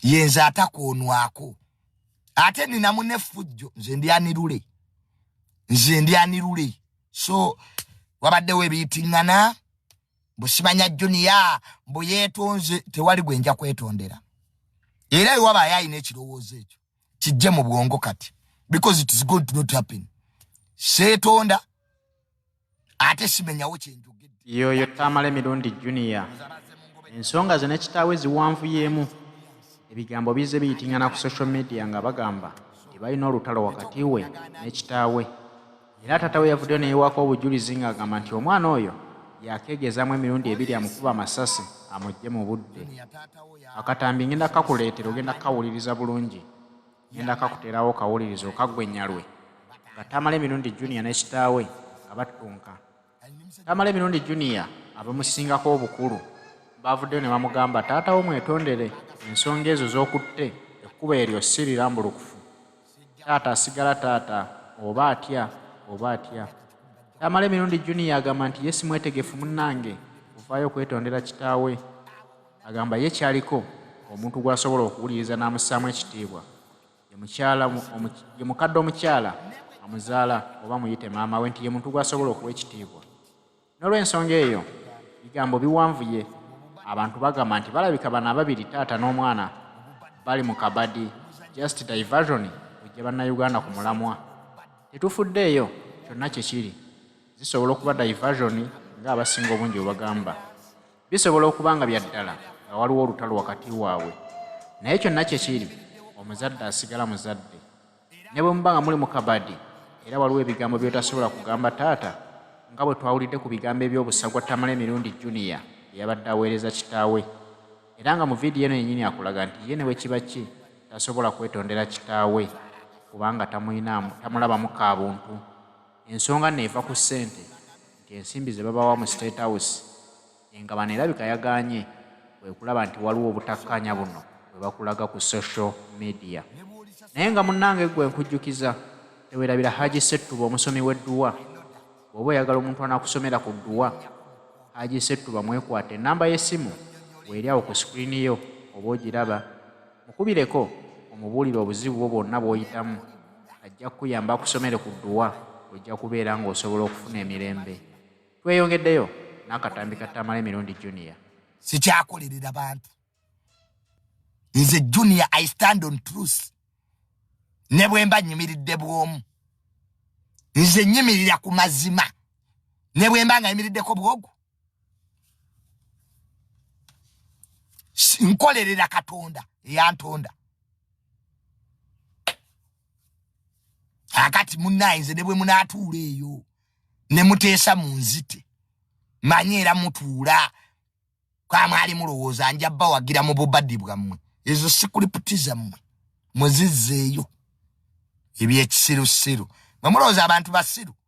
yenze atakwonwako ate ninamu nefujjo nze ndi anirule nze ndi anirule so wabaddewo ebiyitingana busimanya juniya mbu yetonze tewali gwenja kwetondera era ewaba ayayina ekirowoozo ekyo kijje mu bwongo kati because it is good to not happen seetonda ate simenyawo kyenjogedde yoyo tamale mirundi junior ensonga ze ne kitaawe ziwanvuyeemu ebigambo bizze biyitingana ku social media nga bagamba nti balina olutalo wakati we ne kitaawe era taata we yavuddeyo neyewaako obujulizi ng'agamba nti omwana oyo yakeegezamu emirundi ebiri amukuba amasasi amugye mu budde akatambi ngenda kakuleetera ogenda kukawuliriza bulungi ngenda kakuterawo kawuliriza okaggwe nyalwe nga tamala emirundi junior ne kitaawe nga battunka tamala emirundi junior abamusingako obukulu baavuddeyo ne bamugamba taatawo mwetondere ensonga ezo z'okutte ekkuba eryo si lirambulukufu taata asigala taata oba atya oba atya tamala emirundi junior agamba nti ye simwetegefu munnange ovaayo okwetondera kitaawe agamba ye kyaliko omuntu gw'asobola okuwuliriza n'amussaamu ekitiibwa ye mukadde omukyala amuzaala oba muyite maama we nti ye muntu gw'asobola okuwa ekitiibwa n'olw'ensonga eyo bigambo biwanvuye abantu bagamba nti balabika bano ababiri taata n'omwana bali mu kabadi just diversion ojja bannayuganda ku mulamwa tetufuddeeyo kyonna kye kiri zisobola okuba diversion ng'abasinga obungi bwe bagamba Bisobola okuba nga bya ddala nga waliwo olutalo wakati waabwe, naye kyonna kye kiri, omuzadde asigala muzadde. Ne bwe muba nga muli mu kabadi era waliwo ebigambo by'otasobola kugamba taata, nga bwe twawulidde ku bigambo eby'obusagwa Tamale Mirundi Junior bye yabadde aweereza kitaawe, era nga mu vidiyo eno yennyini akulaga nti ye ne bwe kiba ki tasobola kwetondera kitaawe kubanga tamulinamu tamulabamu ka buntu. Ensonga nno eva ku ssente. nti ensimbi ze babawa mu State House engabana erabika yagaanye kwe kulaba nti waliwo obutakkaanya buno bwe bakulaga ku social media naye nga munnange ggwe nkujjukiza tewerabira haji settuba omusomi w'edduwa bw'oba oyagala omuntu anakusomera ku dduwa haji settuba mwekwata ennamba y'essimu weeri awo ku sikuriini yo oba ogiraba Mukubireko omubuulire obuzibu bwo bwonna bw'oyitamu. Ajja kukuyamba akusomere ku dduwa ojja kubeera ng'osobola okufuna emirembe. Tweyongeddeyo n'akatambi ka Tamale Mirundi Junior. Sikyakolerera bantu. Nze Junior I stand on truth. Ne bwe mba nyimiridde bw'omu. Nze nyimirira ku mazima. Ne bwe mba nga yimiriddeko bwogu. nkolerera katonda eyantonda akati munaye nze ne bwe munatuula eyo ne muteesa mu nzite manye era mutuula kwamwali mulowooza nja bawagira mu bubadi bwammwe ezo sikulipti zammwe mwezizzeeyo ebyekisirusiru bwe mulowooza abantu basiru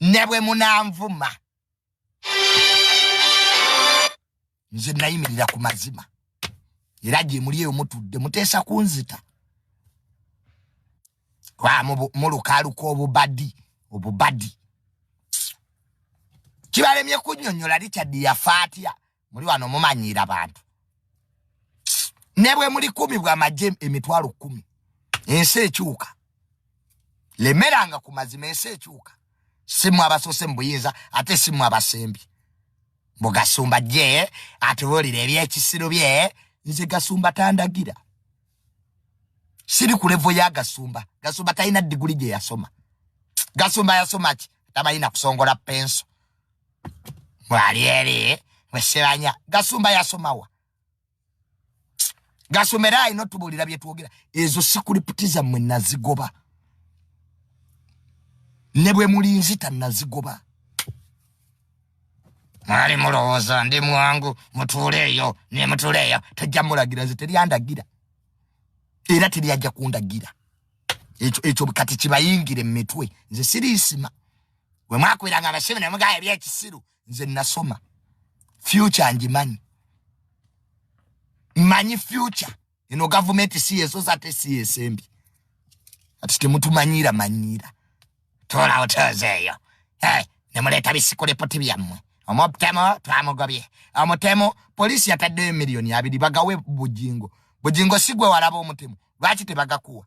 ne bwe munanvuma nze nayimirira ku mazima era gye muli eyo mutudde muteesa kunzita mulukaaluka obubadi obubadi kibalemye kunyonyola richard yafa atya muli wano mumanyiira bantu ne bwe muli kumi bwa magye emitwalo kumi ensi ekyuka lemeranga ku mazima ensi ekyuka simu abasose mu buyinza ate simu abasembi mbu gasumba gye atubuulira ebyekisiru bye nze gasumba tandagira siri ku levo ya gasumba gasumba talina diguli gye yasoma gasumba yasoma ki tabalina kusongola penso mwali eri mwesebanya gasumba yasomawa gasumba era alina otubulira byetwogera ezo sikuriputi zammwe nazigoba ne bwe muli nzita nazigoba mwali mulowooza ndi mwangu mutuuleeyo ne mutuuleeyo tajja mulagira nze teryandagira era teryajja kundagira ekyo kati kibayingire mu mitwe nze siriisima we mwakubiranga abasibe ne mugaya ebyekisiru nze nasoma future ngimanyi manyi future eno gavumenti si yesosa ate si yesembi kati temutumanyiira manyiira tola hotels eyo hey, ne muleeta bisikurepoti byammwe omutemu twamugobye omutemu poliisi yataddeyo miliyoni abiri bagawe bujingo bujingo si gwe walaba omutemu lwaki tebagakuwa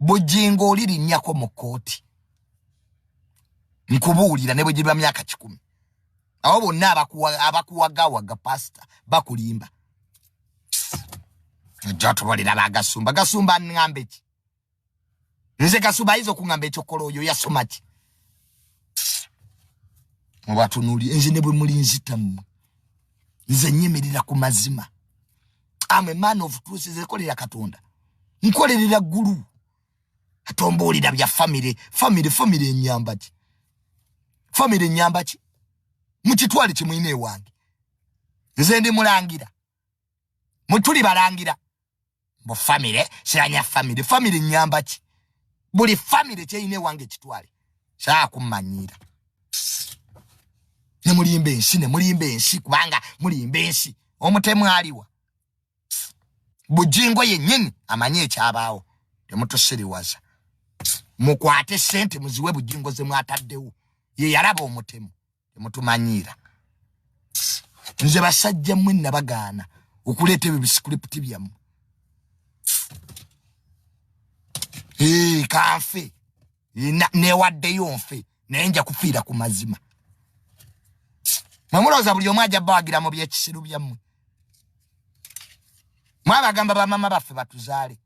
bujingo oli linyako mu kooti nkubuulira ne bwe giriba myaka kikumi abo bonna abakuwagawaga pasita bakulimba ojja otubalira bagasumba gasumba nŋamba eki nze gasumba ayinza okuŋamba ekyokola oyo yasoma ki mubatunuli nze ne bwe muli nzitamu nze nyimirira ku mazima am a man of truth nze kolera katonda nkolerera gulu atombuulira bya famire famire famire enyamba ki famire enyamba ki mukitwale kimuyina ewange nze ndi mulangira mutuli balangira mbu famire siranya famire famire enyamba ki buli famire kyeyina ewange kitwale kyakumanyiira ne mulimba ensi ne mulimba ensi kubanga mulimba ensi omutemu aliwa bujingo yennyini amanyi ekyabaawo temutusiriwaza mukwate sente muziwe bujingo ze mwataddewo ye yalaba omutemu temutumanyiira nze basajja mwe nabagaana okuleeta ebyo bisikulipiti byamu kanfe newaddeyo nfe naye nja kufiira ku mazima mwemulowooza buli omu aja bawagira mu byekisiru byammwe mwabagamba bamama baffe batuzaale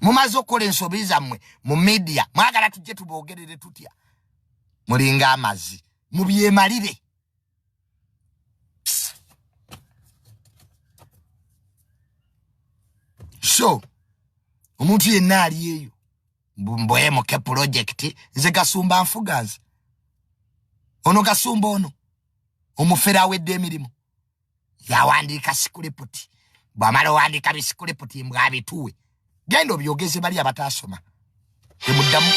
mumaze okukola ensobi zammwe mu midiya mwagala tujje tubogerere tutya mulinga amazi mubyemalire so omuntu yenna ali eyo mbwemuke pulojekiti nze gasumba nfuga nze ono gasumba ono omufere awedde emirimu yawandiika sikuliputi bwamala owandiika bisikuliputi mbwabituwe genda obyogeze bali abataasoma temuddamu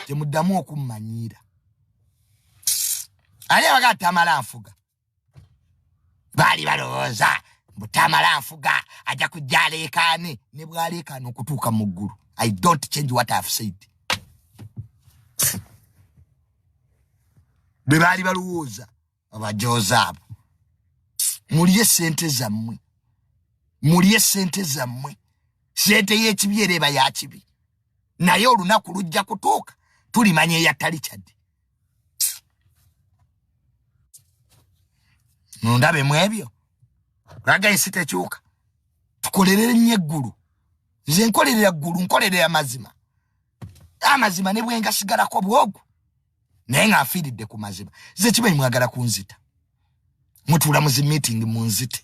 temuddamu okummanyiira ali abaga tamala nfuga baali balowooza mbu tamala nfuga ajja kujja aleekaane ne bwaleekaana okutuuka mu ggulu i don't change what ihave said bwe baali balowooza abajoozi abo mulye sente zammwe mulye sente zammwe sente y'ekibi era eba yakibi naye olunaku lujja kutuuka tulimanya eyatali kyadde nondabe mu ebyo laga ensi tekyuka tukolerere nnyo eggulu nze nkolerera ggulu nkolerera mazima amazima ne bwengasigalako bwogu naye nga afiiridde ku mazima ze kimanyi mwagala kunzita mutuula mu zi meeting munzite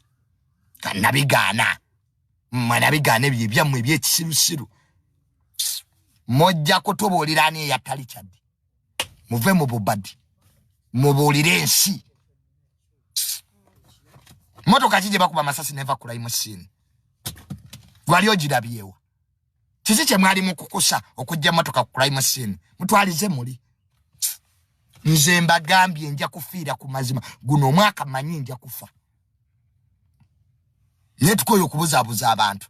kanabigaana mwanabigaana ebyo ebyammwe ebyekisirusiru mojja kutubuulira ani eyatali kyaddi muve mu bubadi mubuulire ensi motoka ki gye bakuba amasasi neva kulayimu siini gwali ogirabyewo kiki kye mwali mukukusa okujja motoka ku crime scene mutwalize muli nze mbagambye nja kufiira ku mazima guno omwaka manyi nja kufa naye tukoyo okubuzabuza abantu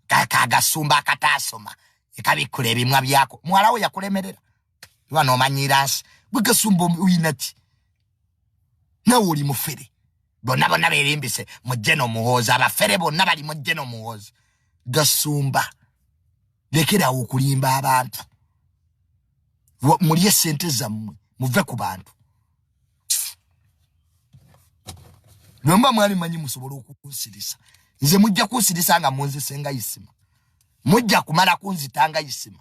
kagasumba akataasoma ekabikkula ebimwa byako muwalawo yakulemerera iba nomanyiira nsi gwegasumba oyinaki nawe oli mufere bonna bonna berimbise mujje nomuhoozi abafere bonna bali mujje nomuhoozi gasumba lekerawo okulimba abantu mulye sente zammwe muve ku bantu nomba mwali manyi musobole okunsirisa nze mujja kunsirisa nga munzisenga isima mujja kumala kunzitanga isima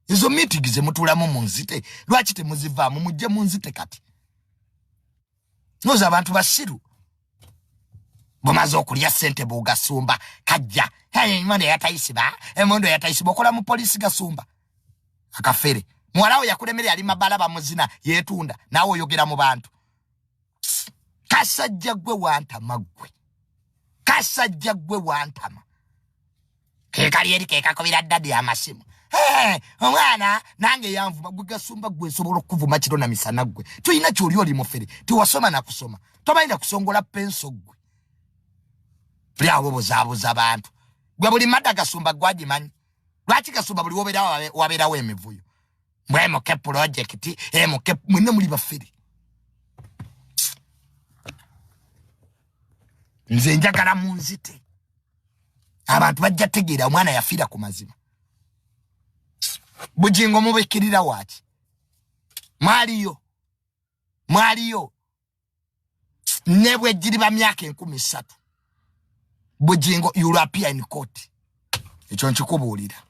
ezo meeting zemutulamu munzite lwaki temuzivaamu mujje munzite kati noza abantu basiru bumaze okulya sente bugasumba kajja emondo yatayisiba emondo yatayisiba okola mu polisi gasumba akafere muwalawo yakulemere yali mabala bamuzina yetunda nawe oyogera mu bantu kasajja gwe wantama gwe kasajja gwe wantama kekali eri kekakubira dadi amasimu omwana nange yanvuma gwe gasumba gwe nsobola okukuvuma kiro na misana gwe tulina kyoli oli mufere tewasoma nakusoma tomanyi nakusongola penso gwe tuli awo buzabuza bantu gwe buli mada gasumba gwagimanyi lwaki gasumba buli wobera waberawo emivuyo mbwe muke pulojekiti emuke eh, mwine muli bafere nze njagala munzite abantu bajja tegeera omwana yafiira ku mazima bujingo mubikirira waki mwaliyo mwaliyo nebwejiriba myaka enkumi satu bujingo european court ekyo nkikubuulira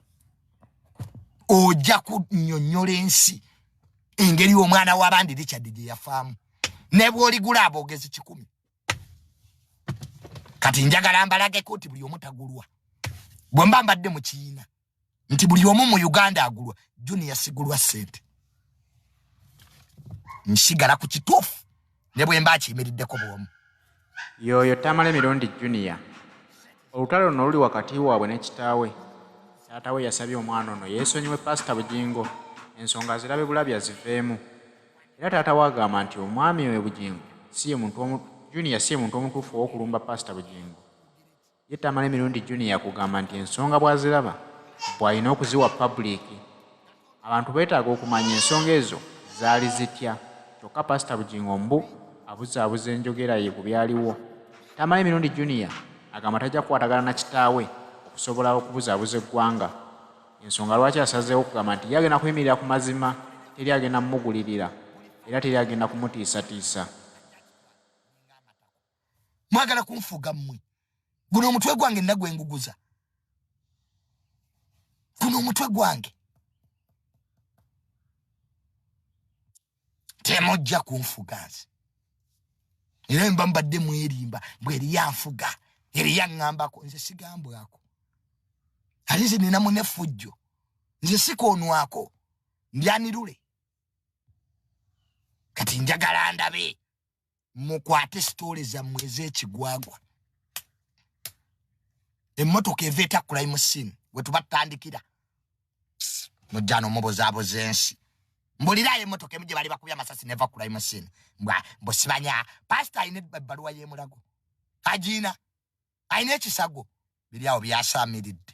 ojja kunyonyola ensi engeri omwana wabandi richard gyeyafaamu nebwoligula aboogezi kikumi kati njagala mbalageko nti buli omu tagulwa bwe mba mbadde mu kiina nti buli omu mu uganda agulwa juniya sigulwa sente nsigala ku kituufu ne bwe mba akiyimiriddeko bwomu yooyo tamala emirundi juniya olutalo luno luli wakati waabwe ne kitaawe taata we yasabye omwana ono yeesonyiwe paasita bugingo ensonga zirabe bulabi aziveemu era taata wagamba nti omwami we bugingo siye muntu omu junior siye muntu omutuufu owokulumba pasita bugingo ye tamala emirundi junior kugamba nti ensonga bwaziraba bwalina okuziwa pabuliiki abantu beetaaga okumanya ensonga ezo zaali zitya kyokka pasita bugingo mbu abuzaabuza enjogera ye ku byaliwo tamala emirundi junior agamba tajja kukwatagana na kitaawe okusobola okubuzaabuza eggwanga Y'ensonga lwaki asazeewo okugamba nti ye agenda kuyimirira ku mazima, teri agenda mumugulirira era teri agenda kumutiisatiisa. Mwagala kunfuga mmwe. Guno omutwe gwange nna gwenguguza. Guno omutwe gwange. temujja kunfuga nze era mba mbadde mwerimba mbw eriyo anfuga eriyo aŋambako nze sigambwako ali nze nina munefujjo nze sikoonwako ndyanirule kati njagala ndabe mukwate sitoole zammwe ez'ekigwagwa emmotoka eva etakkulayi mu simu we tuba tutandikira mujja n'omubuzaabuza ensi mbulirayo emmotoka emu gye bali bakubya amasasi neva kkulayi mu simu mbwa mbusibanya pasita alina ebbaluwa y'emulago agiina alina ekisago biri awo byasaamiridde